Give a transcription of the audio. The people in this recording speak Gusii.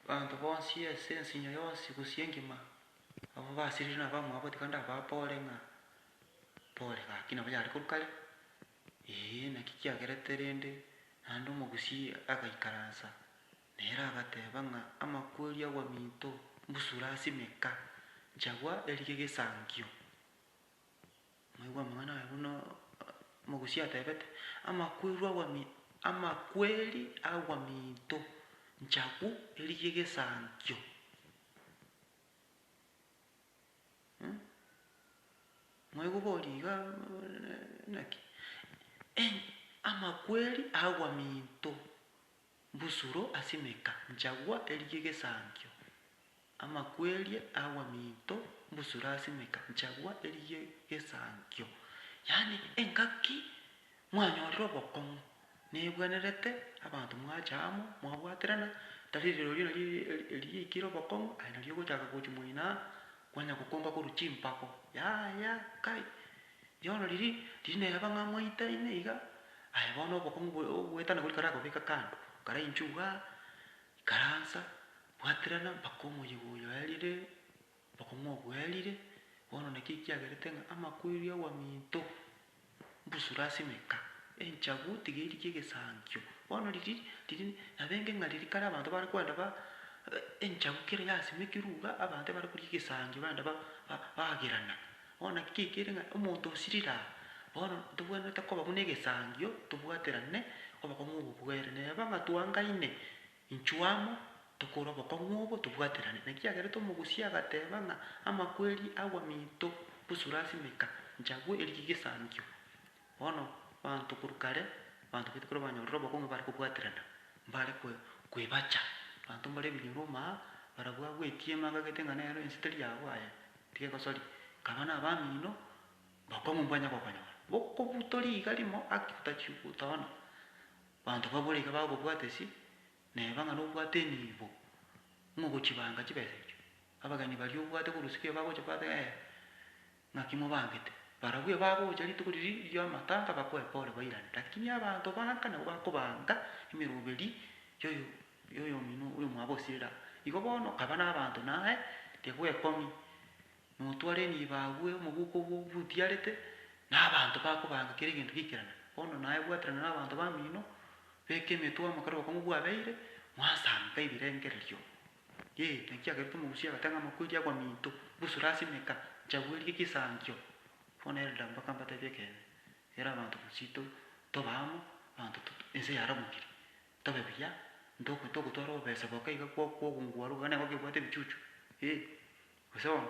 Abanto bonsi ase ensinyo yonsi gose engima, abwo basiririe na abamwabo, tiga ndababoore ng'a pole, gaki nabo yare korwa kare, ee, naki kiagerete rende naende omogusii agaikaransa, nere agateeba ng'a amakweri agwa minto, mbusure ase emeka, nchagwa erie gesankio. Moigwe amang'ana aya buna omogusia atebete, Amakweru agwa mi, amakweri agwa minto nchaku erie egesankio. Mh, moigwe bori iga naki? Amakweri agwa minto. Mbusuro asimeka nchagwa eria egesankio, amakwerie agwa minto mbusuro asimeka nchagwa eria egesankio. Yaani engaki mwanyorire obokong'u, nebwenerete abanto mwacha amo mwabwaterana, tari rirorio nari eria yaikire obokong'u aye nari ogochaka gochia moino aa, kwanya gokonga korwa chimpago, yaya kai Rirooro riri, riria neraba ng'a mwaitaine iga, aye bono obokong'u bwe ogoetana goria karagobeka kando, karainchwe iga, ikaransa, bwaterana mpaka omoyega oyo aerire, obokong'u obwo bwerire, bono naki kiagerete ng'a amakweri abaminto mbusure ase emeka, enchagu tiga eri gegesankio. Bono riria riria nabenge ng'a riria kare abanto bare kwenda ba enchagu kera yasimekirwe iga, abanto ebare koria egesangio benda ba ba bagerana. Bono naki toikire ng'a omonto osirire aa, bono ntobwenerete koba buna egesangio, tobwaterane obokong'u obo bwere. Neba ng'a twangaine inchuo amo, tokore obokong'u obo, tobwaterane. Naki kiagerete omogusia agateba ng'a amakweri agwa minto bosura ase emeka, nchagwe eria egesangio. Bono abanto korwa kare, abanto baito ekero banyorire obokong'u mbare kobwaterana, mbare kwe kwebacha. Abanto mbare ebinyeroma, barabwo agwetie ime akagete ng'a nero ense teri agwo aye. Rigegosori, nkaba nabamino bakong'u mbwanya gokonyora. Bokobuto riiga rimo aki otachiu gotoona, banto babwo riga bagokobwata esi, neba ng'a nobwate enibo ng'a ogochibanga chibesa echio. Abageni baria obwate korusikia iga bagocha kwata ng'a ee, ng'aki mobangete? Barabwo ebagocha rituko riria ri'amatanga bakoe pole bairane. Lakini abanto banka nabo bakobanga emeroberi y'oyo Rigia oyomino oyo mwabosirera. Igo bono kaba nabaanto naye tibwekong'i, notware enibo agwo omobuko obwo butiarete, nabaanto bakobaanga kera egento giikerana. Bono naye bwaterana nabaanto bamino, beka emetwe amo kera obokong'u bwabeire, mwasanka ebirengererio. Yee, naki kiagerete omogusia agoteba ng'a amakweri agwa minto, busure ase emeka, nchabu erie gesankio. Bono Elda mpaka mbatebie ekeene, kera abanto bosii to tobe amo, abanto to ense yaramokire, Tobe buya, ntogo togotwara obobesa boka iga kwa okogungua ruga nabo kebwate ebichuchu, ee, gose bono.